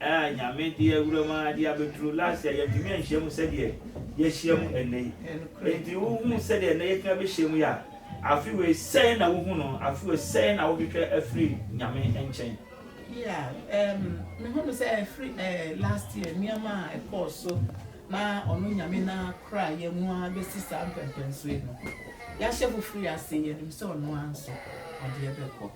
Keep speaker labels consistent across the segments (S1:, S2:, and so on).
S1: Aa Nyame de awura mu aa de abɛduru last year yɛantumi anhyia mu sɛdeɛ yɛahyia mu ɛnnɛ yi. Enti wo hu sɛdeɛ ɛnnɛ yɛatumi abɛhyia mu yi a, afe wei sɛn na wo hu no? Afe wei sɛn na wo hwehwɛ afiri Nyame nkyɛn? Yeah, um, me hu no sɛ ɛfiri eh, last year nneɛma a ɛkɔɔ so na ɔno Nyame na kora yɛn mu aa bɛsi saa mpɛmpɛnsoɔ yi no, yɛahyɛ foforo yi ase, yɛnim sɛ ɔno aa nso ɔde yɛbɛkɔ.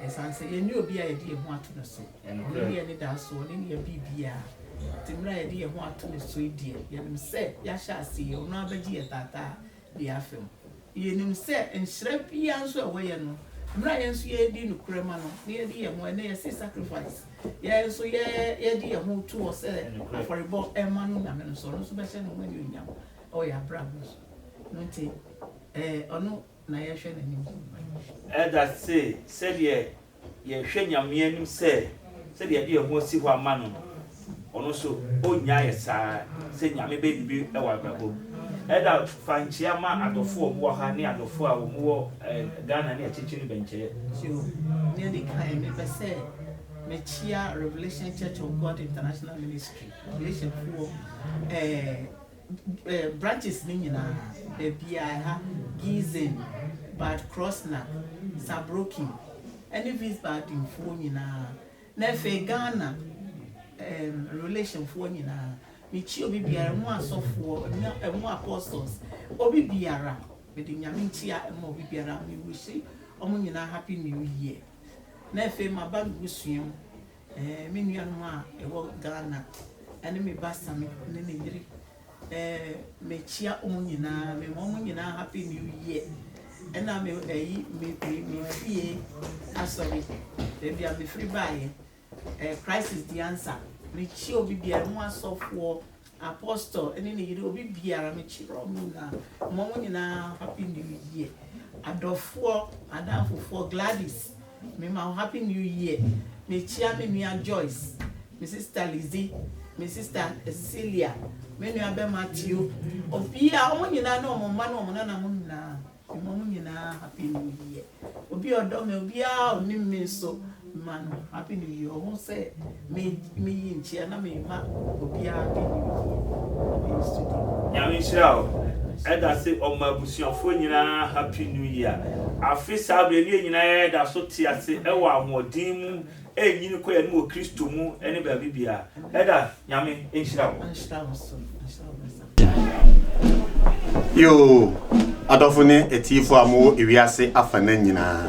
S1: Esiane sɛ yɛnni obi a yɛde yɛn ho ato no so, ɔno ne yɛn anidaso, ɔne nea ɛbee biara. Enti mmere a yɛde yɛn ho ato ne so yi deɛ, yɛnim sɛ yɛahyɛ aseɛ, ɔno ara bɛgye yɛn taataa de afa mu. Yɛnim sɛ nhyira biara nso a ɛwɔ yɛn no, mmere a yɛn nso yɛredi nokorɛ ma no, na yɛde yɛn ho, ɛnnɛ yɛse sacrifice, yɛn nso yɛ, yɛde yɛn ho to hɔ sɛ afɔrebɔ ma no Nyame no so, ɔno nso bɛhyɛ ne ho anuonyam wɔ yɛn abrabɔ so. Ɛno nti, ɛɛ, ɔno. na yɛhwɛ n'anim kɔ. Ɛda se sɛdeɛ yɛhwɛ Nyame anim sɛ sɛdeɛ yɛde yɛn ho asi hɔ ama no no, ɔno nso ɔnnya ayɛ saa ara, sɛ Nyame bɛyɛ biribi wɔ abrabɔ mu. Ɛda fankyea ma adɔfoɔ a wɔn wɔ ha ne adɔfoɔ a wɔn wɔ Ghana ne akyirikyiri no bɛnkyɛɛ. So, nea edi kan, mepɛ sɛ mekyea Revelation Church of God International Ministry, Revelation foɔ, ɛɛ. branches no nyinaa, baabiara, ha, Giessen, Bad Kreuznach, Saarbrücken, ne Wiesbadenfoɔ nyinaa, na afei Ghana um, relationfoɔ nyinaa. Mekyi obi biara, ɛmu asɔfoɔ, ɛmu apostles, obi biara, mede nyame nkyia ɛma obi biara, mewusi wɔn nyinaa happy new year. Na afei maba me busua mu, Ɛɛ me nuanom a ɛwɔ Ghana ɛne me ba Sami ne ne yere ɛɛ me kyia ɔmo nyinaa me ma ɔmo nyinaa happy new year ɛna me ɛyi me me me fie asɔre baabi a me firi baayɛ ɛɛ crisis di ansa me kyia obi biara ɛmo asɔfoɔ Apostle ɛne ne yere obi biara me kyerɛ ɔmo nyinaa mma ɔmo nyinaa happy new year adɔfoɔ adamfofoɔ Gladys me ma wo happy new year me kyia me nua Joyce me sister Lizzie me sister Cecilia me nua bɛma Tio obiara ɔmo nyinaa ne ɔmo mma ne ɔmo nana mo nyinaa. Ɔma mo nyinaa happy new year obi a ɔdɔ me obiara a ɔnim me nso ma no happy new year ɔho sɛ me me yi nkyia na me ma obiara happy new year na me yi studio. Nyame nhyira wo ɛdase ɔma abusuafoɔ nyinaa happy new year afe saa berɛ no yɛn nyinaa yɛ da so te ase ɛwɔ ahoɔden mu ɛnyini kɔ yɛne wɔ kristo mu ɛne baabi biara ɛda Nyame nhyira wo. Yoo, adɔfo ne atiefo a mowɔ ewiase afanan nyinaa.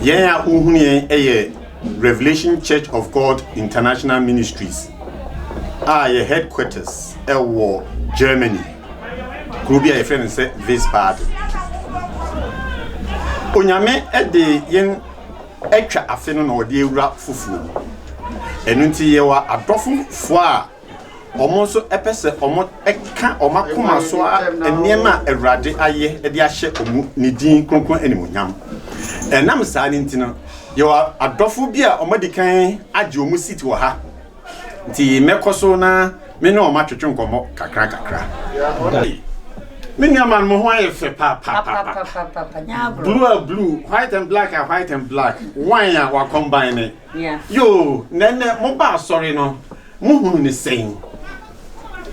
S1: Yɛn a wohunu yɛn yɛ Revelation Church of God International Ministries a yɛ headquarters wɔ Germany, kuro bi a yɛfrɛ no sɛ Wiesbaden. Onyame de yɛn atwa afe no na ɔde awura foforɔ mu. Ɛno nti yɛwɔ adɔfofoɔ a Wɔn nso pɛ sɛ wɔka wɔn akoma so nneɛma a Awurade ayɛ de ahyɛ wɔn ne din kronkron animuonyam. Ɛnam saa no nti no, yɛwɔ adɔfo bi a wɔadi kan agye wɔn seat wɔ ha, nti mɛkɔ so na me ne wɔn atwetwe nkɔmmɔ kakrakakra. Me nuaman, mo ho ayɛ fɛ papaapa. Blue a blue, white and black a white and black, wine a wakɔmbaine. Yoo, na ɛnnɛ mobaa asɔre no, Mo hunu no sɛn?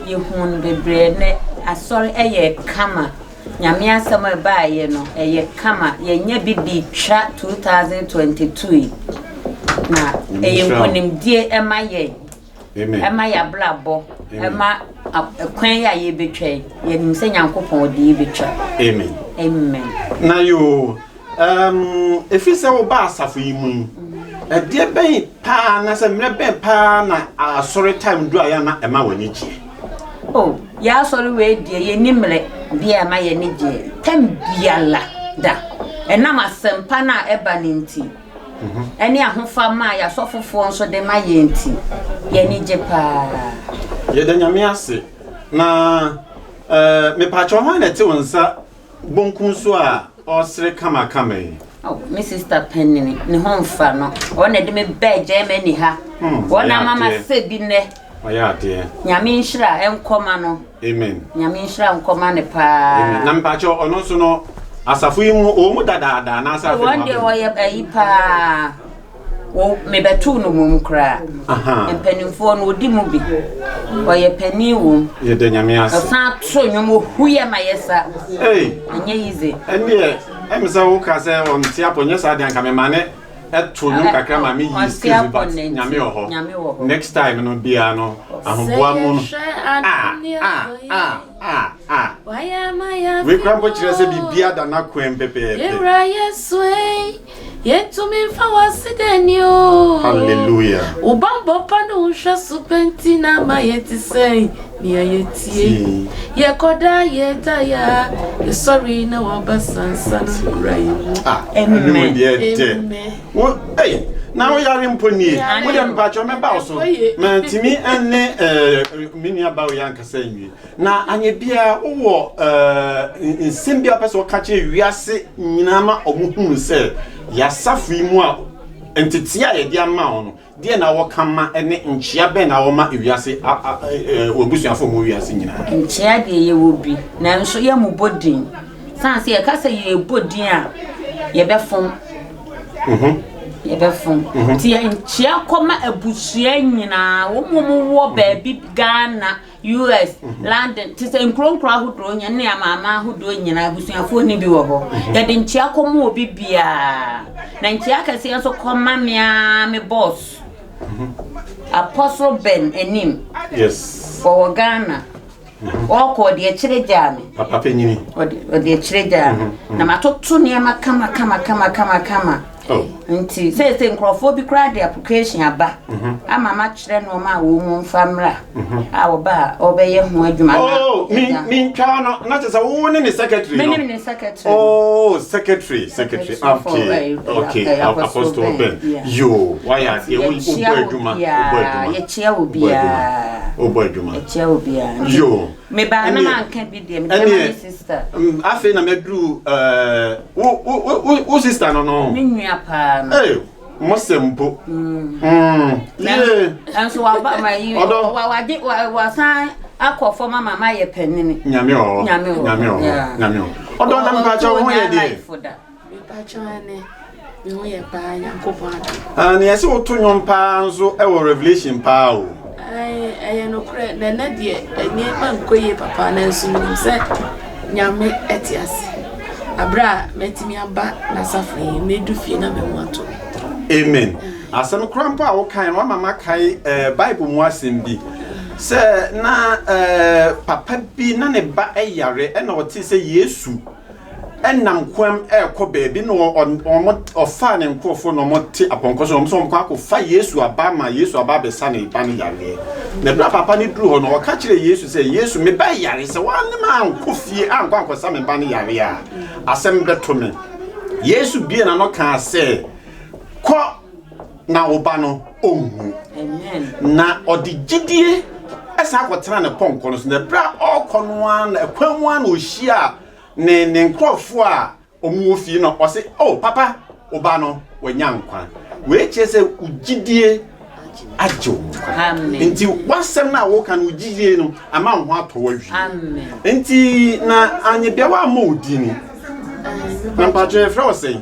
S1: Yɛhunu no bebree nnɛ, asɔre yɛ kama, Nyame asɛm a ɛbaeɛ no ɛyɛ kama, yɛnyɛ bi de twa 2022 yi, na ɛyɛ nkunimdie ɛma yɛn, ɛma yɛn abrabɔ, ɛma kwan yi a yɛbɛtwa yi, yɛnim sɛ Nyankopɔn ɔde yɛbɛtwa. Amen. Amen. Na yoo, Ɛɛm, ɛfiri sɛ wobaa asafo yi mu yi, ɛdeɛ bɛn paa anaasɛ mmerɛ bɛn paa na asɔre time duru a yɛ a na ɛma w'ani gyeɛ? O, yɛ asɔre wei deɛ yɛnni mmerɛ bi a ɛma yɛn ani gyeɛ time biara da. Ɛnam asɛmpa no a ɛba no nti, ɛne ahofama a yɛ asɔfofoɔ nso de ma yɛn nti, yɛn ani gye paa. Yɛda Nyame ase. Na ɛɛ, mepaakyɛw hwan na ɛte wo nsa Bonkun so a ɔresere kamakama yi. Oh, me sister panini, ne ho mfa no. Wɔn na de me bɛɛ Germany ha. Hmm, Wɔn na mama sɛ bi nɛ. Ɔyɛ adeɛ. Nyame nhyira nkɔma no. Amen. Nyame nhyira nkɔma ne paa. Amen. Na mpakyɛ ɔno nso no asafo yi mu ɔwɔ mu dadaada anaasɛ afei mu abɛn. Wɔn deɛ ɔyɛ ayi paa. Wo mebɛtow no wom koraa. Ahaa. Mpanimfoɔ no ɔdi mu bi. Ɔyɛ panin wom. Yɛda Nyame ase. Ɔsan to nnwom ohu yɛ ma yɛ sa. Ei. Ɛnyɛ easy. Ɛndeɛ ɛm sɛ wo ka sɛ wɔn te apɔ nyɛ saa deɛ anka me ma ne ɛto nnwom kakra ma me yi skills bi but Nyame wɔ hɔ. Nyame wɔ hɔ. Next time no biara no ahoboa mu no. Sɛ yɛhwɛ adeɛ ah ah ah ah ah. Wayɛ ama yɛ afi hɔ. Wei kura mpo kyerɛ sɛ biribiara da n'akwan pɛpɛɛpɛ. Yɛwura Yesu ei. Yɛnto me mfa w'aseda ni o. Hallelujah. Wo bammɔ pa ne wo nhwɛso pɛ nti na ama yɛte sɛn nea yɛtie. Yɛkɔ daa yɛda yɛ a yɛsɔre na waba sansa no wura yɛ mu. Ah, ɛno mu Amen. deɛ ɛdɛ. Amen. Wo, ei, na wo yare mpo nie. Yare Wo deɛ o. mpakyɛ mɛba wo so. Ɛkɔ yie. Mantumi ne eh, me nua Bao yɛ ankasa nwie. Na anyɛ biara wowɔ nsɛm bi a wopɛ sɛ woka kyerɛ wiase nyinaa ma wɔhunu sɛ yɛn asafo yi mu a ntetee a yɛde ama wo no, deɛ na wɔka ma ne nkyea bɛn na wɔma wiase w'abusuafo mu wiase nyinaa? Nkyea deɛ yɛwɔ bi nanso yɛmmobɔ din. Sane sɛ yɛka sɛ yɛrebɔ din a yɛbɛfom. Mhm. Yɛbɛfom. Mhm. Nti nkyea kɔma abusua nyinaa. Wɔn wɔn wɔ baabi Ghana. US, London, te sɛ nkuro nkuro ahodoɔ nyɛ ne amanaman ahodoɔ nyinaa abusuafoɔ no bi wɔ hɔ. Yɛde nkyea kɔma obi biara. Na nkyea kɛseɛ nso kɔma me ara me boss. Apostle Ben anim. Yes. Wɔwɔ Ghana. Ɔkɔ ɔde akyire gyaa me. Papa panyini. Ɔde akyire gyaa me. Na matoto nneɛma kama kama kama kama kama. Oh. Nti seesei nkurɔfoɔ bi koraa de application aba mhm. ama makyerɛ nneɛma a wɔn mu mfa mmra mhm. a ɔba a ɔbɛyɛ ho adwuma na oh, mentwaa no na kyɛ sɛ wo ne ne secretary no ne secretary oh secretary secretary okay okay apostle ben yo wayɛ adeɛ wobɔ adwuma wobɔ adwuma yɛkyia obiara wobɔ adwuma yɛkyia obiara yo Mebaa na manka bi deɛ, mede bɛma me sista. Afei na maduru wo sista no no. Me nua paa no. Ee, mo sɛ mpo. Nanso waba ma yi, wade wasan akɔ fam ama ma yɛ panini. Nyame ɔhɔ. Nyame ɔhɔ. Nyame ɔhɔ. Nyame ɔhɔ. Ɔdɔ na mpakyɛ wo ho yɛ deɛ. Mepakyɛw ɛne me ho yɛ paa Nyankopɔn adom. Ah nea ɛsɛ woto nwom paa nso ɛwɔ revelation paa o. Ae ɛyɛ nokorɛ na ɛnɛ deɛ nneɛma nkɔ yie papa nanso menim sɛ Nyame ɛte ase. Aberɛ a matumi aba n'asafo yi medu fie na me ho ato me. Amen. Asɛm koraa mpo a wokae no wama makae eh, Bible mu asɛm bi sɛ na eh, papa bi na ne ba yare ɛna ɔtee sɛ Yesu nam koam rekɔ baabi na ɔfaa ne nkurɔfoɔ na wɔte apɔnkɔ so na wɔn nso wɔkɔ akɔfa Yesu aba ma Yesu aba abɛsa ne ba no yareɛ. Na berɛ a papa no duru hɔ no, ɔka kyerɛɛ Yesu sɛ, Yesu, me ba yare, sɛ woanne me ankɔ fie ankɔ ankɔsa me ba no yareɛ a, asɛm bɛto me. Yesu buee n'ano kaa sɛ, Kɔ! Na wo ba no, ɔnwu. Na ɔde gyidie san kɔtenaa ne pɔnkɔ no so, na berɛ a ɔrekɔ no ara na ɛkwan mu ara na ɔhyiaa ne ne nkurɔfoɔ a wɔwɔ fie no, ɔse, O papa, wo ba no, wanya nkwa. Wei kyerɛ sɛ wo gyidie agye wo nkwa. Nti w'asɛm no a woka no, wo gyidie no ama wo ho atɔ wo awie. Nti na Anyebeawa ammɔ wo din. Na mpakyɛ yɛfrɛ wo sɛn?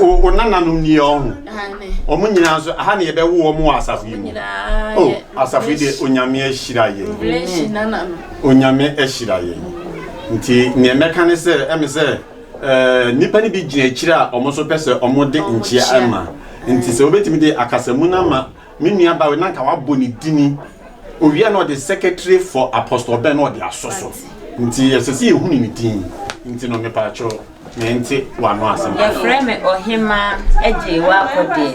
S1: O, o nananom nie ɔho. Wɔn nyinaa nso, aha na yɛbɛwo wɔn wɔ asafo yi mu. O, asafo yi deɛ Onyame ahyira yɛn. Onyame ahyira yɛn. Nti, nea mɛka ne sɛ, ɛme sɛ, ɛɛ, nnipa no bi gyina akyire a wɔn nso pɛ sɛ wɔde nkyea ma. Nti sɛ wobɛtumi de akasamu no ama Me nua Barry na anka wabɔ ne dini. Owie a na ɔde Secretary for Apostle Ben na ɔde asɔ so. Nti ɛsɛ sɛ yɛhunu ne din. Nti no mepaakyɛw mente w'ano asɛm kakra. Yɛfrɛ me Ɔhemmaa Agyei W'akodeɛ.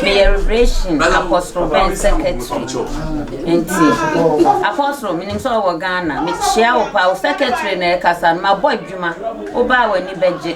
S1: Meyɛ Revelation Apostle Ben Secretary. Nti Apostle menim sɛ wowɔ Ghana. Mekyea wo paa. Wo Secretary no ɛkasa no mabɔ adwuma. Wobaa w'ani bɛgye.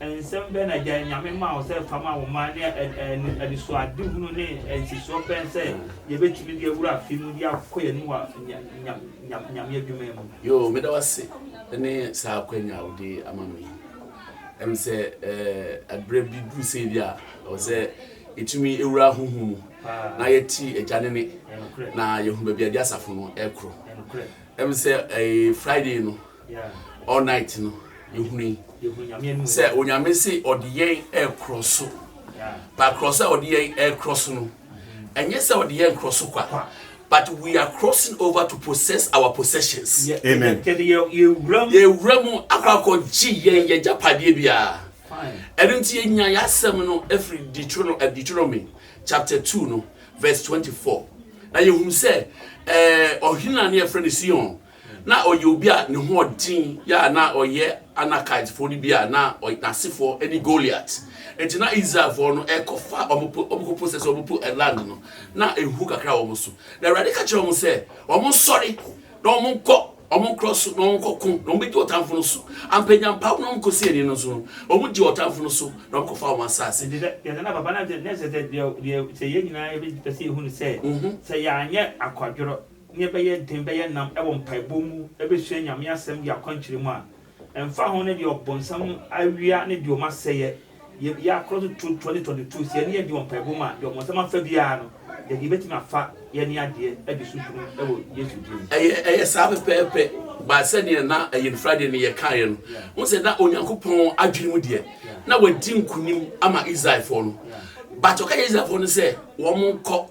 S1: Nsɛm bɛn na agya Nyame maa wo sɛ fa ma wo mma, ne anisoadehunu ne nsisoɔ bɛn sɛ yɛbɛtumi de awura afe mu de akɔ yɛn anim wɔ Nyame adwuma mu? Yoo, meda wo ase ne saa akwanya a wode ama me yi. Ɛm sɛ ɛberɛ bi duru sei bi a ɛwɔ sɛ yɛtumi wura honhom mu na yɛte agya no nne na yɛhunu baabi a agya asafo no rekɔ. Ɛm sɛ Friday no all night no yɛhunu yi sɛ onyame se ɔde yɛn ɛkorɔ so but korɔ sɛ ɔde yɛn ɛkorɔ so no ɛnyɛ sɛ ɔde yɛn korɔ so kwa but we are crossing over to possess our possessions. Yeah, Amen. yɛwura mu akɔ akɔgye yɛn yɛ gyapadeɛ biara ɛno nti yɛnya yɛ asɛm no ɛfiri eh, deuteronomy chapter 2 no verse 24 na yɛhunu sɛ ɔhene a ne yɛfrɛ no sion Ná ɔyɛ obi a ne ho yɛ den yɛ a na ɔyɛ Anakitefo no bi a na ɔyɛ n'asefo ne Goliat. Enti na Israelfo no rekɔfa wɔn po, wɔkɔpo sɛ sɛ wɔpo land no, na ehu kakra wɔ wɔn so. Na Awurade ka kyerɛɛ wɔn sɛ, wɔnsɔre na wɔnkɔ wɔn nkurɔ so na wɔnkɔko, na wɔbɛdi ɔtamfo no so. Ampa, nya mpaw na wɔnkɔsi ani no nso no, wɔdii ɔtamfo no so na wɔkɔfaa wɔn asase. Enti sɛ yɛsɛ na papa no, na ɛsɛ sɛ deɛ, deɛ sɛ yɛn nyinaa yɛbɛpɛ sɛ yɛhunu sɛ, sɛ yɛanyɛ akwadworɔ Nea ɛbɛyɛ den bɛyɛ nnam wɔ mpaebɔ mu abɛsua Nyame Asɛm de akwankyerɛ mu a, ɛmfa ho ne deɛ ɔbonsam awia ne deɛ ɔma sɛeɛ, yɛ yɛ akorɔ tototoɔ ne tɔntotuo, sɛ yɛne yɛ den wɔ mpaebɔ mu a, deɛ ɔbonsam afa biara no, yɛde yɛbɛtumi afa yɛne adeɛ de susu no wɔ Yesu din mu. Ɛyɛ, ɛyɛ saa pɛpɛɛpɛ, but sɛdeɛ na ɛyɛ no Friday no yɛkaeɛ no, wohu sɛ na Onyankopɔn adwene mu deɛ, na wadi nkonim ama Israelfoɔ no, but ɔka kyerɛɛ Israelfoɔ no sɛ wɔnkɔ,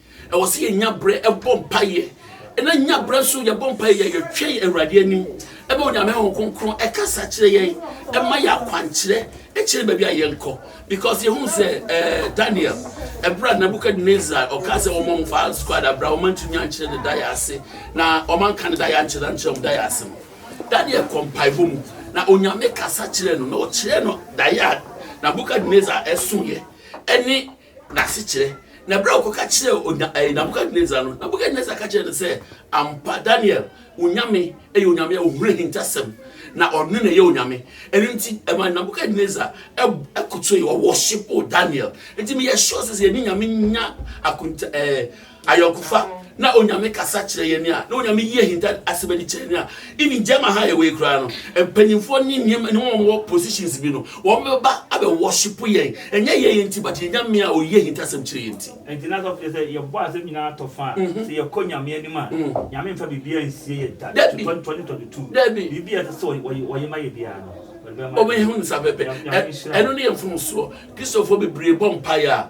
S1: Ɛwɔ sɛ yɛnya berɛ ɛbɔ mpaeɛ na nya berɛ nso yɛbɔ mpaeɛ yɛ yɛtwɛn Awurade anim ɛbɛ Onyame ho kronkron ɛkasa kyerɛ yɛn ɛma yɛ akwankyerɛ ɛkyerɛ baabi a yɛnkɔ because yɛhu sɛ eh, Daniel ɛberɛ a Nebuchadnezzar ɔka sɛ wɔma mo fa squad abra wɔma ntumi ankyerɛ ne da yɛ ase na wɔma nka ne da yɛ ankyerɛ ankyerɛ wɔn da yɛ ase no Daniel kɔ mpaebɔ mu na Onyame kasa kyerɛ no na ɔkyerɛ no da yɛ a Nebuchadnezzar ɛso yɛ ɛne n'asekyerɛ, na bere a ɔkɔka kyerɛɛ Onya ɛɛ Nebukadnesar no, Nebukadnesar ka kyerɛɛ no sɛ, Ampa, Daniel, wo Nyame yɛ Onyame a ohunu ahintasɛm, na ɔno na ɛyɛ Onyame. Ɛno nti, ɛma Nebukadnesar kotoe, ɔwɔshipoo Daniel. Nti meyɛ sure sɛ sɛ yɛne Nyame nya akonta ɛɛ. Ayɔnkofa na Onyame kasa kyerɛ yɛn a, na Onyame yi ahinta asɛm adi kyerɛ yɛn a, even gyama ha yɛwɔ yi koraa no, mpanyinfoɔ ne nneɛma ne wɔn wɔ positions bi no, wɔn bɛba abɛ worship yɛn, ɛnyɛ yɛn yɛn ti, but yɛn Nyame a oyi ahinta asɛm kyerɛ yɛn ti. Ɛnti na asɔfo kyerɛ sɛ yɛbɔ asɛm nyinaa atɔ fa a, mhm. sɛ yɛkɔ Nyame anim a, mm. Nyame mfa biribiara nsie yɛ da, to 2022, biribiara ɛsɛ sɛ wɔyɛ ma yɛ biara no wɔbɛhu nsa pɛpɛ ɛno ne yɛ mfomsoɔ kristofoɔ bebree bɔ mpaeɛ a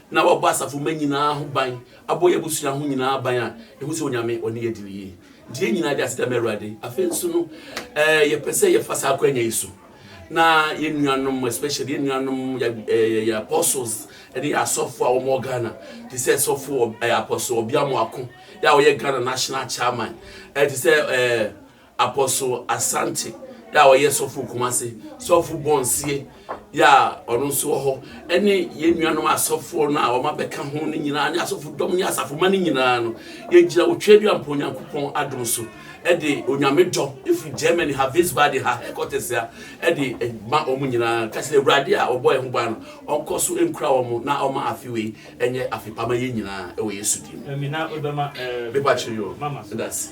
S1: na wabɔ asafo mma nyinaa ho ban, abɔ yɛn abusua ho nyinaa ban a, yɛhu sɛ Onyame ɔne yɛ di no yie. Nti yɛn nyinaa de aseda ma Awurade. Afei nso no, eh, yɛpɛ sɛ yɛfa saa akwanya yi so na yɛn nuanom especially yɛn nuanom yɛ eh, yɛ apostles ne yɛ asɔfo a wɔwɔ Ghana te sɛ sɔfo ɔ- eh, apostle Obiamo Ako yɛ a ɔyɛ Ghana national chairman eh, te sɛ eh, Apostle Asante yɛ a ɔyɛ sɔfo Kumase, sɔfo Bonsie yɛ a ɔno nso wɔ hɔ, ɛne yɛn nuanom asɔfoɔ no a wɔn abɛka ho no nyinaa ne asɔfo dɔm ne asafoma no nyinaa no, yɛgyina wɔ Tweaduampɔ Onyankopɔn adom so ɛde onyame dɔ ɛfiri Germany ha Wiesbaden ha headquarters ha ɛde ma wɔn nyinaa ka sɛ awurade a ɔbɔ yɛn ho ban no ɔnkɔ so nkura wɔn na ɔma afe wei ɛnyɛ afe pama yɛn nyinaa ɛwɔ Yesu din mu. Ɛmi na ɔbɛma ɛɛ. Bɛpa kyerɛ yɛ o. Mama so. That's.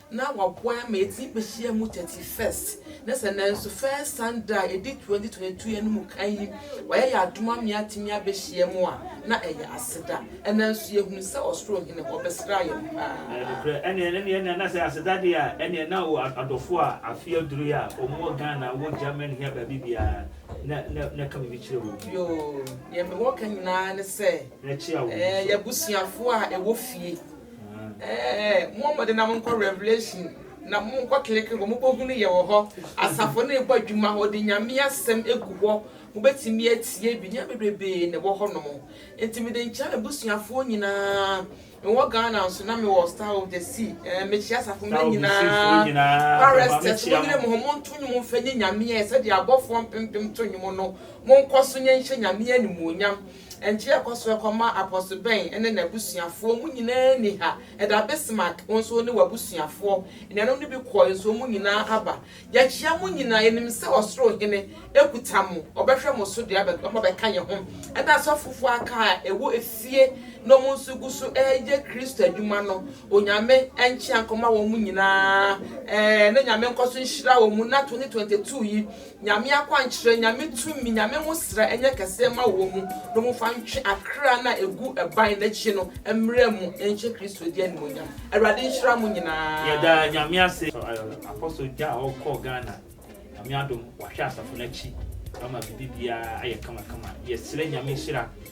S1: na waboa yɛn ama yɛatumi bɛhyia mu thirty first ne sɛ nanso first Sunday a ɛdi twenty twenty two yɛn no mu kan yi wayɛ yɛn adom ama yɛatumi abɛhyia mu a na ɛyɛ aseda ɛnna nso yɛhunu sɛ ɔsoro hene hɔ bɛsra yɛn paa. Nokorɛ ɛneɛ ɛneɛ ɛneɛ na sɛ aseda deɛ a ɛneɛ na wo adɔfoɔ a afe aduru yi a wɔn wɔ Ghana wɔ Germany he a baabi biara na na na ka biribi kyerɛ wɔn. Yoo deɛ mewɔ ka nyinaa ne sɛ Na kyia wɔn ɛɛ nso. yɛn abusuafoɔ a ɛwɔ fie Ɛɛ, mo mmɔden na monkɔ Revelation na monkɔ click hɔ, mobɛhunu yɛ wɔ hɔ, asafo no rebɔ adwuma hɔ, wɔde Nyame asɛm gu hɔ, mobɛtumi atie bi, nneɛma bebrebee na ɛwɔ hɔ nom. Nti mede nkyea m'abusuafoɔ nyinaa, mewɔ Ghana nso na mewɔ Star of the Sea, ɛɛ, mekyea asafo mmerɛ nyinaa, choristers mo nyere mo ho, monto nnwom mfa nyi Nyame ɛ, sɛdeɛ abɔfoɔ mpempem to nnwom no, monkɔ so nyɛ nhyɛ Nyame animuonyam. Nkyea ɛkɔ so kɔma Apostle Ben ne n'abusuafoɔ, wɔn nyinaa nni ha ɛda, Bismarck wo nso ne w'abusuafoɔ, anuanom no bi kɔɔe nso wɔn nyinaa aba. Yɛkyea mo nyinaa, yɛnim sɛ Ɔsoro Hene kuta mo, Ɔbɛhwɛ mo so de aba abɛka yɛn ho, ɛna asɔfofoɔ aka a ɛwɔ efie na wɔn nso gu so reyɛ Kristo adwuma no, Onyame nkyea nkɔma wɔn nyinaa, na Nyame nkɔ so nhyira wɔn na 2022 yi Nyame akwankyerɛ, Nyame tumi, Nyame nwosra nyɛ kɛseɛ mma wɔ mu no mo fa ntwe akra no a ɛgu ɛban no akyi no mmrɛ mu nhyɛ Kristo din animuonyam. Awurade nhyira mo nyinaa. Yɛda Nyame ase for Apostle Jah a ɔkɔɔ Ghana. Nyame adom wahwɛ asafo no akyi ama biribi biara ayɛ kama kama. Yɛsrɛ Nyame nhyira.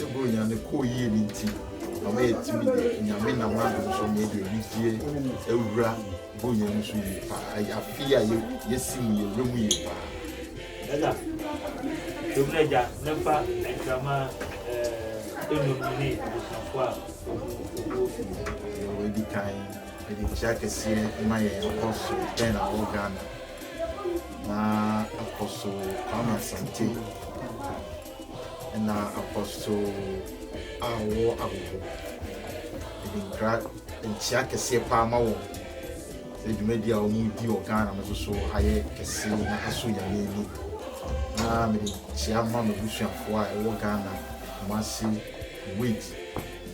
S1: Ebia Onyame kɔɔ yie no nti na wɔyɛ tumi de Nyame nam adom so na yɛde anigyeɛ awura Bonya no so yie paa. Ɛyɛ afe yi a yɛsi mu yɛwerɛ mu yie paa. Ɛna dwom no agya na mfa nkrama enum no ne abusuafoɔ a wɔgu ofi mu. Deɛ wɔadi kan ɛde kyia kɛseɛ ma yɛn akɔ so bɛn na wɔ Ghana na akɔ so Kwame Asante. Na apostol a ɔwɔ ahohom no de nkra nkyia kɛseɛ paa ma wɔn sɛ dwumadi a wɔn di wɔ Ghana no nso so ayɛ kɛse na asɔ Nyame ani. Na mede nkyia ma m'abusuafoɔ a ɛwɔ Ghana, Kumasi, Kuwait,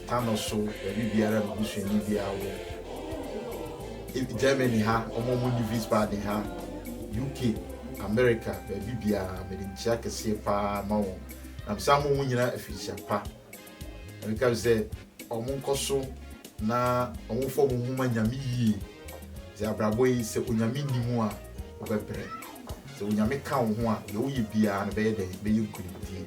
S1: Tano so, baabi biara a m'abusuani biara wɔ. Germany ha, wɔn a wɔnni Wiesbaden ha, UK. Amerika, baabi biara, mede nkyia kɛseɛ paa ma wɔn, na mesan ma wɔn nyinaa afikyia pa, na meka bi sɛ, wɔn nkɔ so na wɔn mfa wɔn ho mma Nyame yie, sɛ abrabɔ yi, sɛ Onyame nni mu a, wobɛbrɛ, sɛ Onyame ka wo ho a, deɛ woyɛ biara no bɛyɛ dɛn, bɛyɛ nkunimdie.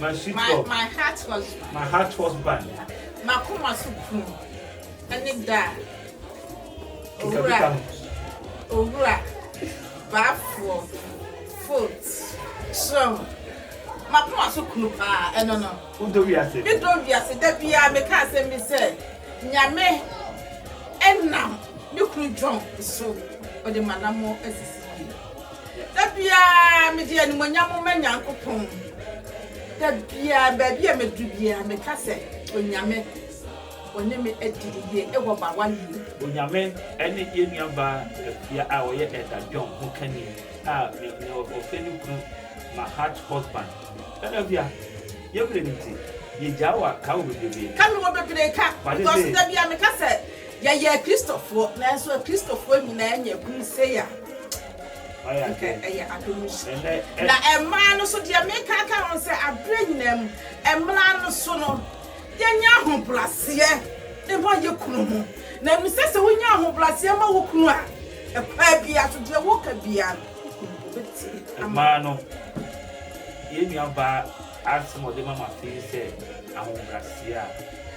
S1: M'asutɔ. My heart husband. My heart husband. M'akoma so kunu ne da a. Owura. Owura. Baafoɔ. Foot. Som. M'akoma so kunu paa ɛno no. Wodɔ wiase. Me dɔ wiase da biara me ka asɛm bi sɛ nyame ɛnam me kunu John so ɔde m'anammɔ asisi yie. Da biara mede animuonyam ma Nyankopɔn. Da biara, baabi a medu biara, meka sɛ, Onyame, wɔne me adi no yie wɔ m'awareɛ mu. Onyame ne yɛn nuabaa Afia a ɔyɛ Elder John ho kani a nea nea ɔfrɛ ne kunu ma heart husband. Elder Afia, yɛn mmerɛ no nti, yɛgyaa wo a, ka wo bebrebe. Ka me wɔ bebree ka, because da biara meka sɛ. Yɛyɛ Kristofoɔ, nanso Akristofoɔ nyinaa nya kunu sei a, nka ɛyɛ adom nhyira. Na mmaa no nso, deɛ meka aka ho sɛ, aberɛ nyinaa mu, mmara no so no, yɛnyɛ ahobraseɛ mma yɛ kunu ho. Na ɛno sɛ, sɛ wonya ahobraseɛ ma wo kunu a, ɛkwan biara so, deɛ woka biara no, wo kunu ɔbɛtie ama wo. Mmaa no, yɛn nuabaa asɛm a ɔde ma mo afe yi sɛ, ahobraseɛ a.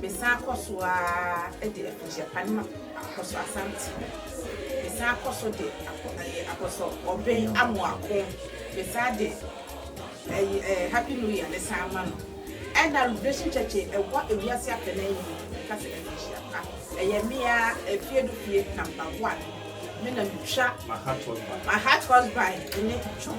S1: Mesan kɔ so ara de abusuapade ma Apɔsɔ Asante. Mesan kɔ so de Apɔsɔ Obey Amoako, mesan de Happy New Year no san ma no. Ɛna Liberation Church a ɛwɔ wiase afanan nyinaa no ka sɛ afirihyia pa. Ɛyɛ me ara, afie no fie number one. Me na metwa my heart husband ne dwom.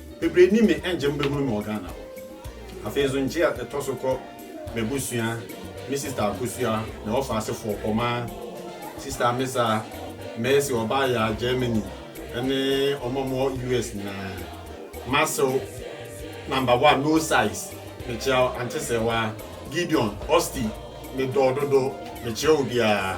S1: Bebree nnim me ɛngye mo bɛhunu me wɔ Ghana hɔ. Afei nso ngye a ɛtɔ so kɔ m'abusua, me sista abusua, me hɔ faasefoɔ, Ɔmaa, Sista Amesa, Mercy, Ɔbaayaa, Germany, ɛne wɔn a wɔwɔ US nyinaa. Masew, Number one, No Size, mekyea wo, Ante Sɛɛwaa, Gideon, Osty, medɔ wo dodo, mekyea obiara.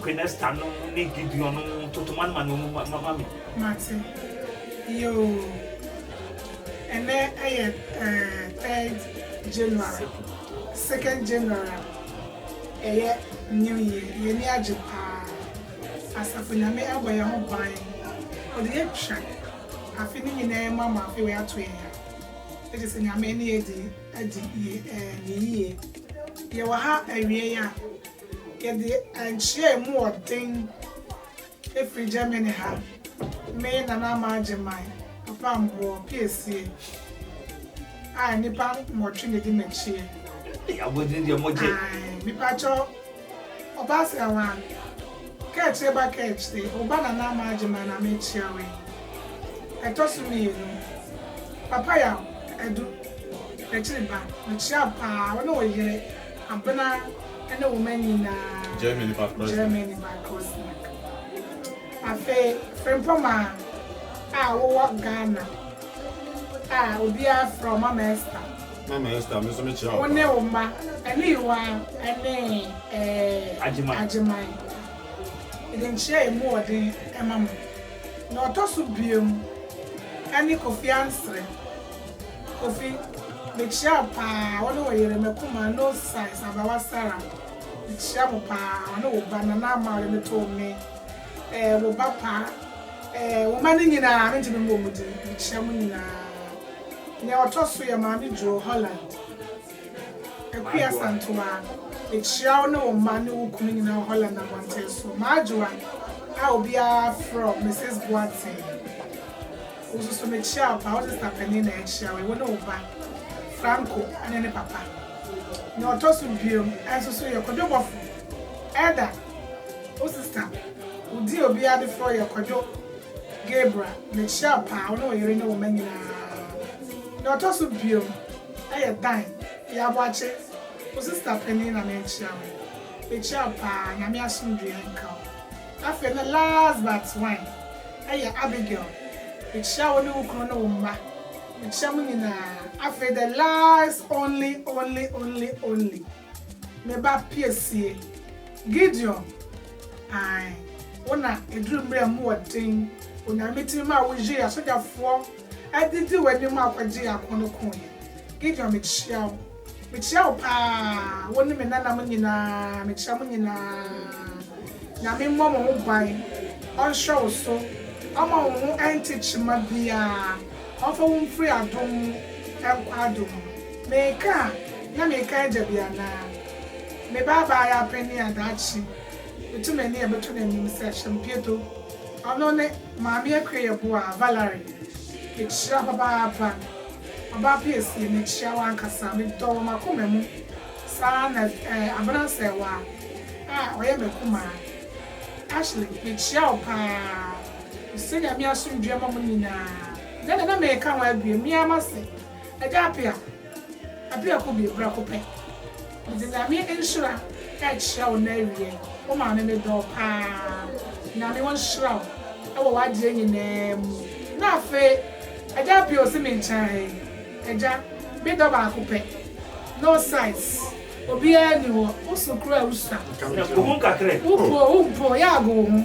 S1: Quenesta no ne Gideon no toto ma no ma no ma ma me. Mate. Yoo. Ɛnɛ ɛyɛ eh, third January. Second January a, ɛyɛ New Year. Yɛn ani agye paa. Asafo Nyame abɔ yɛn ho ban. Ɔde yɛn atwa afe no nyinaa mu ama afei wato yɛn a, na kyerɛ sɛ Nyame ne yɛn adi adi yɛ eh, ne yie. Yɛwɔ ha awiei a, Yɛde nkyerɛɛmu wɔ den firi Germany ha, me Nana Ama Agyemang, Papa Mboɔ, Piesie, a nnipa nwɔtwe na ɛdi m'akyiɛ. Ei abɔdini deɛ mo gye. Ae mepakyɛ ɔbaasea wa kɛɛkyire ba kɛɛkyire wo ba Nana Ama Agyemang na me kyerɛ wo yi. Ɛtɔ so mmienu Papa Yaw Adu Akyiri ba mekyea paa wo ne wo yere. Abena ne wo mma nyinaa. Germany ba Krosnak. Germany ba Krosnak. Afei Frimpong a wowɔ Ghana a obiara frɛ wo Mama Esther. Mama Esther, me nso me kyia wo paa. Wo ne wo mma ɛne Yiwa ɛne ɛɛ Agyeman. Mede nkyia emu wɔ den ɛma mo. Nea ɔtɔ so biom ɛne Kofi Ansere. Kofi, Mekyia wo paa, wo ne wo yere, Makumaa, no size, Abawa Sarah, Mekyia mo paa, wo ne wo ba, Nana Ama ɔde me too me, eh, wo ba pa, eh, wo mma no nyinaa, mentumi mmɔ mo din, mekyia mo nyinaa. Nea ɔtɔ so yɛ Maame Duo, Holland, Akua Santoa, Mekyia wo ne wo mma ne wo kunu nyinaa wɔ Holland abɔnten so, M'adwowa a obiara frɛ wo Mrs. Boateng. Wo nso so mekyia wo paa. Wo sista panin na yɛkyia wo yi, wo ne wo ba Franco ne ne papa. Nea ɔtɔ so biom nso so yɛ Kwadwo Bɔfo, Elder. Wo sista, wo din a obiara de frɛ wo yɛ Kwadwo Gabriel. Mekyia wo paa, wo ne wo yere ne wo mma nyinaa. Nea ɔtɔ so biom yɛ Dan Yaboakye. Wo sista panin na mekyia wo yi. Mekyia wo paa, Nyame asomdwoeɛ nka wo. Afei na last but one ɛyɛ Abigail mekyia wo ne wo kunu ne wo mma mekyia mo nyinaa afei the last only only only only me ba piesie Gideon ae wo na ɛduru mmerɛ a mu wɔ den Onyame tumi maa wo yieɛ asogyafoɔ adidi w'anim akɔgye yɛn ako no koeɛ Gideon mekyia wo. Mekyea wo paa wo ne me nana mo nyinaa mekyea mo nyinaa nyame mmɔ mo ho ban ɔnhyɛ wo so ɔma wo ho ɛnte kyema biaa ɔnfa wo mfiri adom mu ɛnkɔ adom mu meeka a na meeka agya bi anaa me ba abaa yɛ apanin a daakye meto m'ani a ɛbɛto no anim sɛ Ashampieto ɔno ne maame Akua Yeboah Valerie mekyea papa paa. Ɔbaa piesie, mekyia wo ankasa, medɔ wɔ m'akoma mu saa ara na eh, abena asɛewaa a ɔyɛ m'akumaa. Ashley, mekyia wo paa, mesɛ Nyame asomdwoeɛ mma mo nyinaa. Ɛnɛ na na meka ho awie, me ara m'ase, Agya Apea, Apea Kobie, prɛko pɛ. Medze Nyame nhyira rekyerɛ wo na ewiei, wo maame medɔ wo paa. Nyame ɔnhyira wo wɔ w'adeɛ nyinaa mu. Na afei Agya Appiah ɔsi me nkyɛn ha yi, Agya, me dɔ baako pɛ, no size, obiara nni hɔ, wo so koraa a wusua. Wo po wo mpo, yɛ ago wo ho.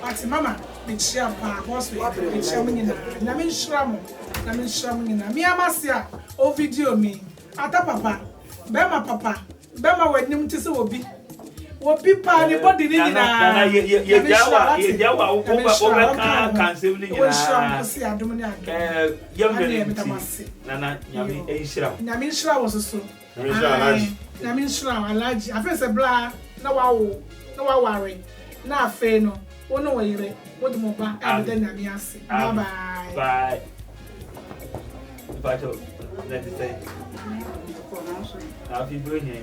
S1: But mama mekyia paa boss wei deɛ mekyia mo nyinaa nyame nhyira mo nyame nhyira mo nyinaa me amase a o video me ata papa bɛma papa bɛma w'anim te sɛ obi obi paa ne body ne nyinaa nana yɛ yɛ yɛ gya wa yɛ gya wa wo ba wo bɛ kan kan sɛm ne nyinaa nhyira mo se adom ne adom ɛɛ yɛm ne ne nti nana nyame nhyira nyame nhyira wɔ soso Nyame nhyira Alhaji. Ae Nyame nhyira wo Alhaji afei sɛ bla na wawo na waware na afei no wo ne wo yere mo de mo ba ɛbɛda Nyame ase bye bye. Bye. Mpakyɛw na ɛte sɛn? Afe bere he?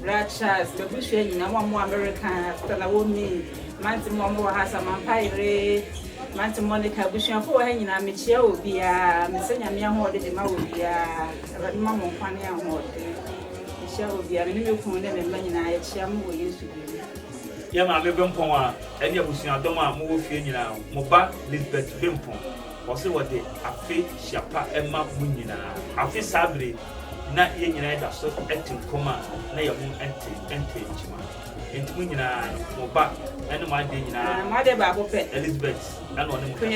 S1: Bra Charles, m'abusua nyinaa, mo a mowɔ Amerika, Sister Naomi, m'ante mo a mowɔ ha, Samantha yere, m'ante Monica, abusuafo wɔ ha nyinaa, mekyia obiara, mesɛ Nyame ahoɔden de ma obiara, Awurade ma mo nkwa ne ahoɔden, mekyia obiara, me ne me kunu ne me mma nyinaa, yɛkyia mo wɔ Yesu din mu. Yɛn Maame Bempɔn a ɛne abusuadɔm a mowɔ fie nyinaa, mo ba Lisbeth Bempɔn, ɔse wɔde afe hyia pa ma mo nyinaa. Afe saa bere yi. Ná yɛn nyinaa da so te nkɔm a na yɛn ho nte nte nkyema. Enti mo nyinaa, mo ba ne mo adeɛ nyinaa, Elizabeth na ɔne mo kasa.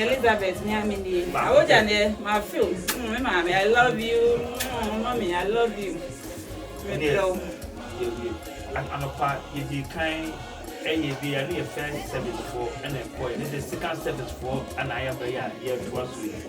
S1: Anɔpa yɛdii kan yɛɛ bi a, ne yɛ first service foɔ na ɛkɔeɛ, ne deɛ second service foɔ na ayɛ berɛ yi a yɛretoa so yi.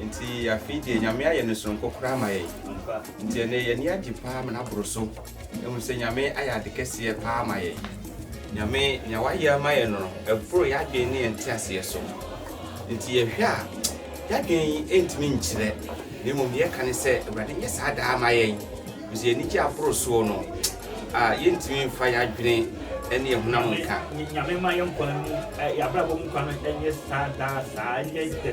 S1: Enti afei deɛ Nyame ayɛ no soronko koraa ama yɛn. Enti ɛnnɛ yɛn ani agye paa ma no aboro so. Yɛahu sɛ Nyame ayɛ ade kɛseɛ paa ama yɛn. Nyame, nea wayɛ ama yɛn no, ɛboro yɛn adwene ne yɛn nteaseɛ so. Enti yɛhwɛ a, yɛn adwene ntumi nkyerɛ, na mmom deɛ yɛka ne sɛ, Awurade nyɛ saa daa mma yɛn. Ɛfiri sɛ yɛn anigye aboro soɔ no, a yɛntumi mfa yɛn adwene ne yɛn honam nka. Nyame mma yɛn nkwa mu, yɛn abrabɔ mu nkwa no nyɛ saa daa saa, ɛnyɛ the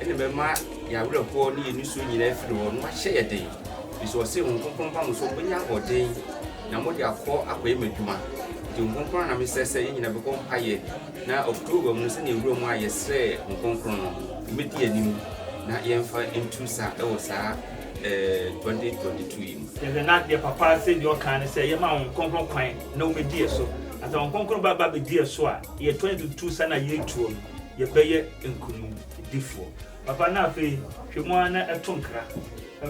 S1: Ɛnna ɛbɛma yɛn awerɛhoɔ ne yɛn nisuo nyinaa afiri hɔ, na wahyɛ yɛn den. Ɛfiri sɛ ɔse, Honhom Kronkron ba mo so, mobɛnya ahoɔden, na mode akɔ akɔyɛ m'adwuma. Nti Honhom Kronkron ara na mesrɛ sɛ yɛn nyinaa bɛbɔ mpaeɛ na October mu no, sɛdeɛ nwura mu a yɛsrɛɛ Honhom Kronkron no, ɛmmɛdi yɛn anim na yɛmfa ntu sa wɔ saa eh, 2022 yi mu. Yɛhwɛ na deɛ Papa se deɛ ɔka ne sɛ yɛma Honhom Kronkron kwan na ɔmmɛdi yɛn so. Na sɛ Honhom Kronkron ba ba bɛdi yɛn so a, yɛn 2022 sa no a yɛretuo no, yɛbɛyɛ nkonimdifoɔ. Papa na afei hwɛ mu ara na to nkra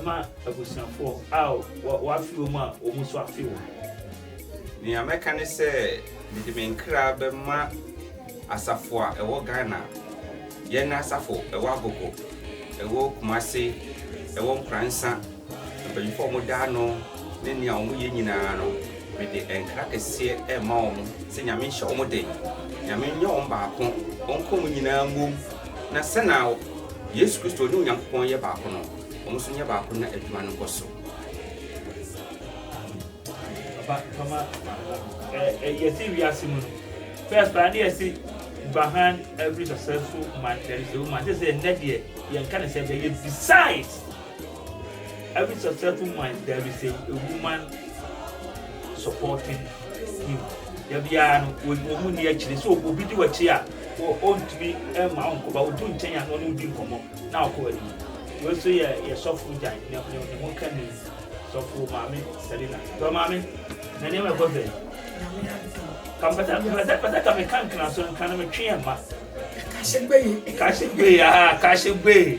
S1: ma abusuafoɔ a w'afe wɔn a wɔn nso afe wɔn. Nea mɛka ne sɛ mede me nkra bɛma asafo a ɛwɔ Ghana, yɛn asafo ɛwɔ Agogo, ɛwɔ Kumasi, ɛwɔ Nkoransa, Mpanyimfo a wɔda ano ne nea wɔyɛ nyinaa no, mede nkra kɛseɛ rema wɔn sɛ Nyame nhyɛ wɔn den, Nyame nyɛ wɔn baako, wɔnka wɔn nyinaa mmom, na sɛnea Yesu Kristo ne Onyankopɔn yɛ baako no, wɔn nso nyɛ baako na adwuma no nkɔ so. Papa, kama ɛyɛ sɛ wiase mu no, first baa ne yɛse behind every successful man there is a woman, sɛ sɛ ɛnnɛ deɛ yɛnka ne sɛ bɛyɛ besides Every successful man there is a, a woman supporting him. Da biara no wɔn mu ni akyire sɛ obi di w'akyi a ɔntumi mma ɔnkɔba odu nkyɛn a ɔne odi nkɔmmɔ na ɔkɔ anim. Wei nso yɛ yɛ sɔfo gyan ne ne ho ka ni sɔfo maame Selina. Sɔfo maame na nneɛma ɛkɔ sɛ. Kampata kampata kampata kame kankana so nkana me twe ɛma. Kahyegbe. Kahyegbe aa kahyegbe.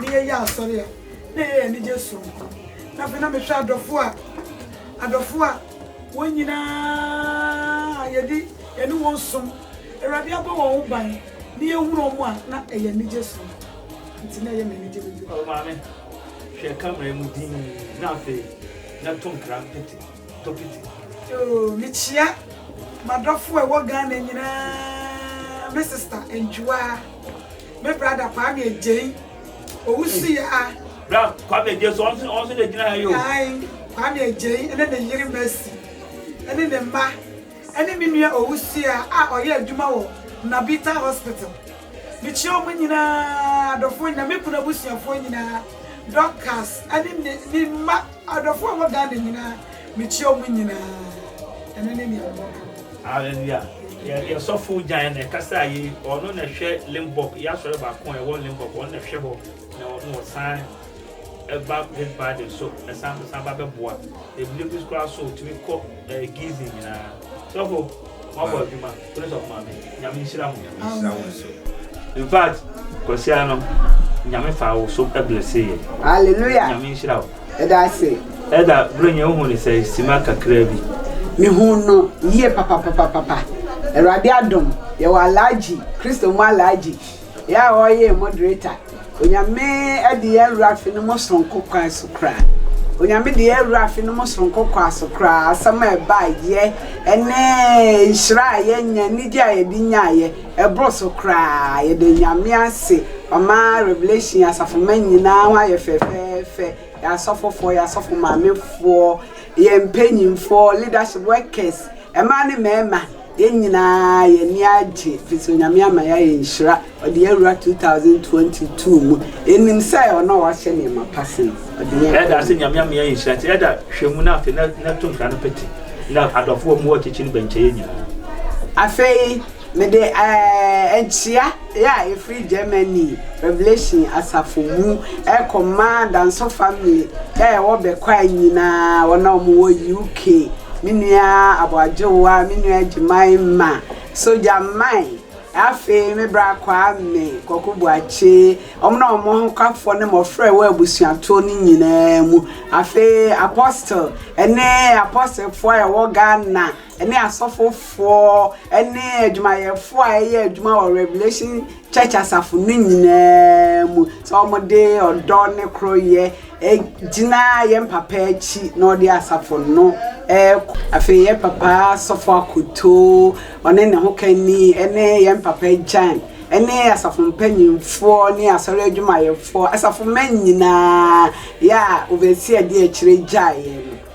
S1: Ne yɛ yɛ asɔre a, na ɛyɛ yɛn anigye soronko. Na afei na mehwɛ adɔfo a, adɔfo a wɔn nyinaa yɛde yɛne wɔn som, Awurade abɔ wɔn ho ban, ne yɛhunu wɔn a, na ɛyɛ anigye soronko. Nti na ɛyɛ me anigye bebree. O Maame, hwɛ camera yi mu dinn na afei na to nkra piti, to piti. O, mekyia m'adɔfo a ɛwɔ Ghana nyinaa, me sista Anjuwaa. Me brada Kwame Agyei owusu yi a. Bra Kwame Agyei so ɔnso ɔnso na egyina ha yi o. Ae Kwame Agyei ɛne ne yere Mercy ɛne ne mma ɛne me nua owusu yi a a ɔyɛ adwuma wɔ Nabita hospital. Me kyia ɔmo nyinaa adɔfoɔ nyinaa me kunu abusuafoɔ nyinaa Dorcas ɛne ne ne mma adɔfoɔ a ɛwɔ Ghana nyinaa me kyia ɔmo nyinaa ɛno ne nea mɛka. Alleluia yɛ yɛ sɔfo gyan na ɛkasa a yei ɔno na ɛhwɛ Limburg yɛ asɔre baako a ɛwɔ Limburg ɔno na ɛhwɛ hɔ na ɔno ɔsan ɛba this Friday so ɛsan san ba bɛboa ebile bi koraa so otumi kɔ ɛɛ Gizin nyinaa sɔfo mo abɔ adwuma kone sɔfo maame nyame nhyira mo nyame nhyira mo nso in fact kwasia no nyame fa wo so ɛblɛse yɛ Alleluia nyame nhyira wo. Ɛda ase. Ɛda bere nyɛ wohu no sɛ simma kakraa bi. Me hu no yie papapapapapa awurade adom yɛ wɔ Alhaji christo mu Alhaji yɛ a ɔyɛ yɛn moderator onyame ɛde yɛn wura afe no mu soronko kɔa so koraa onyame de yɛn wura afe no mu soronko kɔa so koraa asɛm a ɛba yɛ ɛne nhyira a yɛnya anigye a yɛde nya yɛ Ɛboro so koraa, yɛda Nyame ase, Wama Revelation asafomma nyinaa ho ayɛ fɛfɛɛfɛ, yɛn asɔfofoɔ, yɛn asɔfo maamefoɔ, yɛn mpanyinfoɔ, leadership, workers, mmaa ne mmarima, yɛn nyinaa yɛn ani agye, ɛfiri sɛ Onyame ama yɛayɛ nhyira, ɔde yɛn awura 2022 mu, yɛnim sɛ ɔno a wahyɛ nneɛma pa ase no, ɔde yɛn Ɛda ase Nyame ama yɛayɛ nhyira, nti Ɛda hwɛ mu na afei na to nkra no pete na adɔfoɔ a wɔwɔ akyirikyiri no bɛnkyɛ yɛn nyinaa. Afei, Mede nkyia a ɛfiri Germany Revelation asafo mu rekɔma Danso family a ɛwɔ Bekwai nyinaa, wɔn a wɔwɔ UK, me nua Aboagyewa, me nua Gyemaema, Sogya Mai, afei me bra Kwame, Kwaku Boakye, wɔn a wɔn ahokafoɔ ne mmɔfra a ɛwɔ abusuatoɔ no nyinaa mu. Afei Apostle ne Apostlefoɔ a ɛwɔ Ghana. ne asɔfofoɔ ne adwumayɛfoɔ a ɛyɛ adwuma wɔ Revelation Church asafo no nyinaa mu sɛ wɔde ɔdɔ ne koroyɛ gyina yɛn papa akyi na ɔde asafo no ɛkɔ afei yɛn papa sɔfo akoto ɔne ne ho kani ne yɛn papa gyan ne asafo mpanyinfoɔ ne asɔre adwumayɛfoɔ asafo mma nyinaa yɛ a overseer di akyire gyaeɛ no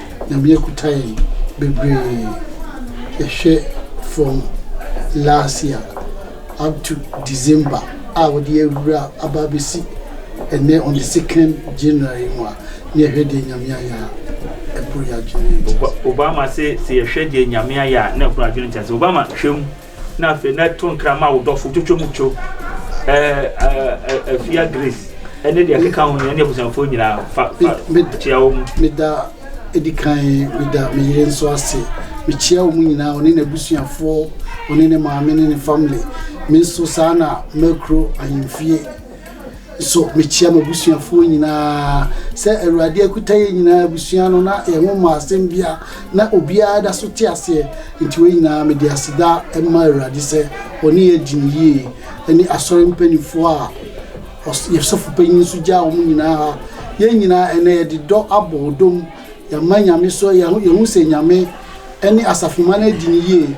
S1: Nyame akuta yɛn bebree yɛhwɛ from last year up to December a wɔde awura aba abɛsi ɛnɛ on the second January mu a ne yɛhwɛ deɛ Nyame ayɛ a ɛboro yɛn adwene. Obama se sɛ yɛhwɛ deɛ Nyame ayɛ a na ɛboro adwene nkyɛse. Obama, hwɛ mu. Na afei na to nkra ma wo dɔfo twotwo mu two afia grace ɛne deɛ ɛkeka ho nyɛ ne abusuafoɔ nyinaa fa kyia wɔ mu meda ɛdi kan meda me yere nso ase mekyia wɔ mu nyinaa ɔne n'abusuafoɔ ɔne ne maame ne ne family me nso saa na makuro ahemfie So mekyia m'abusuafoɔ nyinaa sɛ Awurade akuta yɛn nyinaa abusua no na yɛn ho mmaa asɛm bia na obiara da so te aseɛ nti wei nyinaa mede aseda ma Awurade sɛ ɔne yɛ di no yie ɛne asɔre mpanimfoɔ a yɛsɔfo panyin nso gyaa wɔn nyinaa ha yɛn nyinaa ɛnɛ yɛde dɔ abɔ dom yɛma nyame so yɛho sɛ nyame ɛne asafoma no adi no yie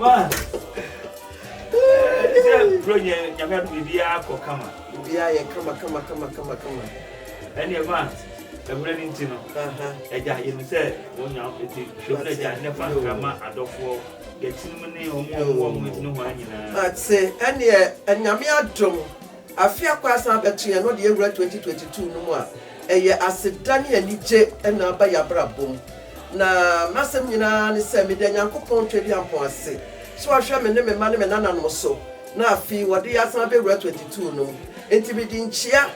S1: man ɛsɛ sɛ bro nyɛ nyame ado biribiaa kɔ kama biribiaa yɛ kama kama kama kama kama ɛneɛ man ɛmmerɛ no nti no agya yɛnim sɛ wɔnya ɛti hwɛm no agya ne fa nkra ma adɔfoɔ yɛtinom ne ɔmo ɔmo ɔmo ɛtumi hɔ nyinaa ɛneɛ nyame adom Afe a kɔ asan abɛto yɛn no de awura 2022 no mu a, ɛyɛ aseda ne anigye na aba y'abrabɔ mu. Na m'asɛm nyinaa ne sɛ meda Nyankopɔn Tweduampɔn ase sɛ w'ahwɛ me ne me mma ne me nananom so na afei wɔde yɛn asan abɛwura 22 no mu. Nti mede nkyia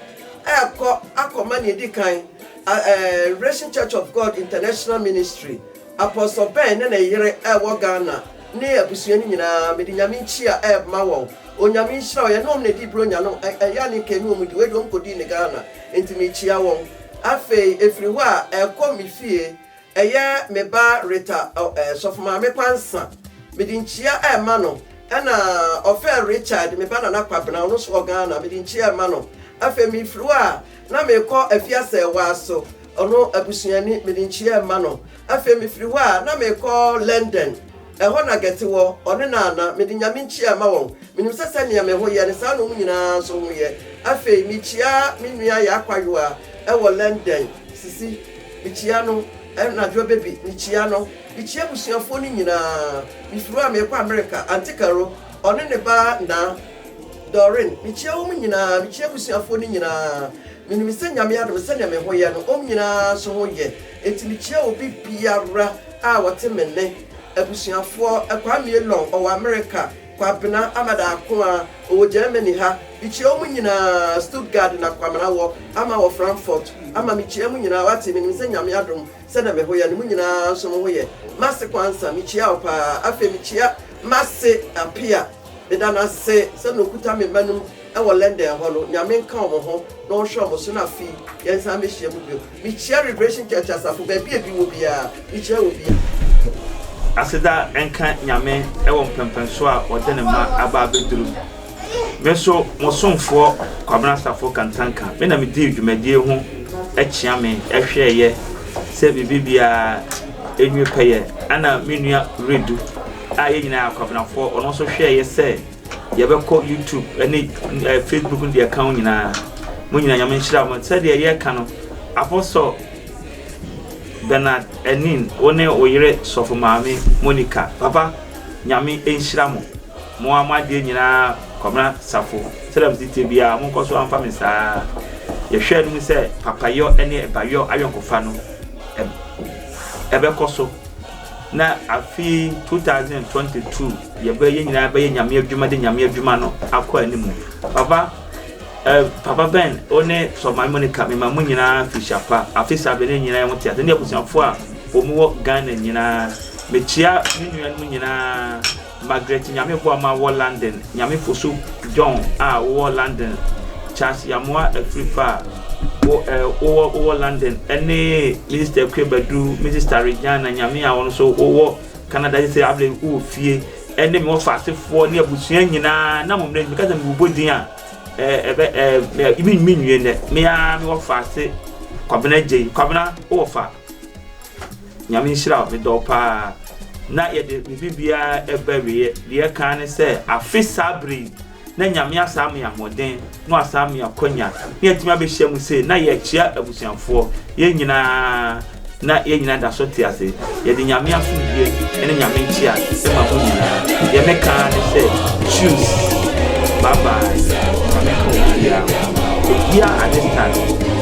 S1: ɛɛkɔ akɔma nea edi kan Revelation Church of God International Ministry, Apostle Ben ne ne yere a ɛwɔ Ghana ne abusua no nyinaa, mede Nyame nkyia ɛɛma wɔn. Onyame nhyira wo yɛne wɔn na ɛdi bronya no ɛyɛ a ne nka ɛne wɔn di wei deɛ wɔn kɔdii ne Ghana nti mekyia wɔn afei ɛfiri hɔ a ɛkɔ me fie ɛyɛ me ba Rita sɔfo maame kwansa mede nkyia ɛma no ɛna ɔfɛ Richard me ba nana kwabena ɔno so wɔ Ghana mede nkyia ɛma no afei mefiri hɔ a na mekɔ afiasɛ waa so ɔno abusuani mede nkyia ɛma no Afei mifiri hɔ a, na merekɔ London. Ɛhɔ na Gertie wɔ, ɔne Nana. Mede Nyame nkyia ma wɔn. Minim sɛ sɛnea me ho yɛ no, saa na wɔn nyinaa nso ho yɛ. Afei mikyia me nua Yaa Kwayowa wɔ London. Sisi, mikyia no. Anadwoa Baby, mikyia no. Mikyia abusuafoɔ no nyinaa. Mifiri hɔ a, merekɔ Amerika. Aunty Carol, ɔne ne ba Naa, Doreen. Mikyia wɔn nyinaa. Mikyia abusuafoɔ no nyinaa. Menim sɛ Nyame adom sɛdeɛ me ho yɛ no, wɔn nyinaa nso ho yɛ, enti mekyia obi biara a ɔte me nne, abusuafoɔ, Kwamie Long, ɔwɔ Amerika, Kwabena Amada Akoah, ɔwɔ Germany ha, mekyia wɔn nyinaa, Stuttgart na Kwamena wɔ, ama wɔ Frankfurt, ama mekyia mo nyinaa, wate, menim sɛ Nyame adom sɛdeɛ me ho yɛ no, mo nyinaa nso mo ho yɛ, M'ase Kwansa, mekyia wo paa, afei mekyia M'ase Appiah, Meda no ase sɛ na okuta me mma no mu wɔ London hɔ no. Nyame nka wɔn ho na ɔnhwɛ wɔn so na afei yɛnsan mɛhyia mu bio. Mekyia Liberation Church asafo baabi a ebi wɔ biara. Mekyia wɔ biara. Aseda nka Nyame wɔ mpɛnpɛnsoɔ a ɔde ne mma aba abɛduru mu. Me nso mo somfoɔ Kwabena Safo Kantanka me na me dii dwumadie ho kyea me hwɛɛyɛ sɛ biribi biara nwie pɛyɛ ɛna me nua Redu a yɛn nyinaa yɛ akwabenafoɔ, ɔno nso hwɛɛ yɛ sɛ yɛbɛkɔ YouTube ne eh, Facebook ne deɛ ɛka ho nyinaa. Mo nyinaa Nyame nhyira mo. Sɛdeɛ yɛka no, Apɔsɔ Bernard Anin, wo ne wo yere Sɔfo Maame Monica, papa, Nyame nhyira mo. Mo a mo adeɛ nyinaa Kwabena Safo, sɛdeɛ mo si tie biara, mo nkɔ so amfa me saa. Yɛhwɛɛ no mu sɛ papayɔ ne ɛbayɔ ayɔnkofa no ɛb- ɛbɛkɔ so. na afe yi, two thousand and twenty two, yɛbɛ, yɛn nyinaa bɛyɛ Nyame adwuma de Nyame adwuma no akɔ anim. Papa, eh, Papa Ben, wo ne Sɔfo Maame Monica, mema mo nyinaa mfirihyia pa, afe saa bere ne yɛn nyinaa yɛn ho te ase, ne abusuafo a wɔwɔ Ghana nyinaa. Mekyia me nuanom nyinaa. Margaret Nyameboama wɔ London, Nyamefosu John a wowɔ London, Charles Yamoa Afrifa a wo ɛ wowɔ wowɔ London ne Minister Akua Badu, Misista Regina Nyame a wo nso wowɔ Canada sese abla yi wowɔ fie ne me wɔfa asefoɔ ne abusua nyinaa na mo mmerɛ meka sɛ mebobɔ din a ɛ ɛbɛ ɛ mɛ me me nwie nɛ me a me wɔfa ase Kwabena Gyei Kwabena wowɔ fa Nyame nhyira wo, medɔ wo paa. Na yɛde biribi biara ɛba awieɛ. Deɛ ɛkaa ne sɛ afe saa berɛ yi na Nyame asan ama yɛn ahoɔden na wasan ama yɛn akwanya na yɛatumi abɛhyia mu sei na yɛrekyea abusuafoɔ. Yɛn nyinaa na yɛn nyinaa da so te ase. Yɛde Nyame asomdwie ne Nyame nkyea ma mo nyinaa. Deɛ mɛka ara ne sɛ tschüss, bye bye, Nyame nka obiara ho. Obiara understand.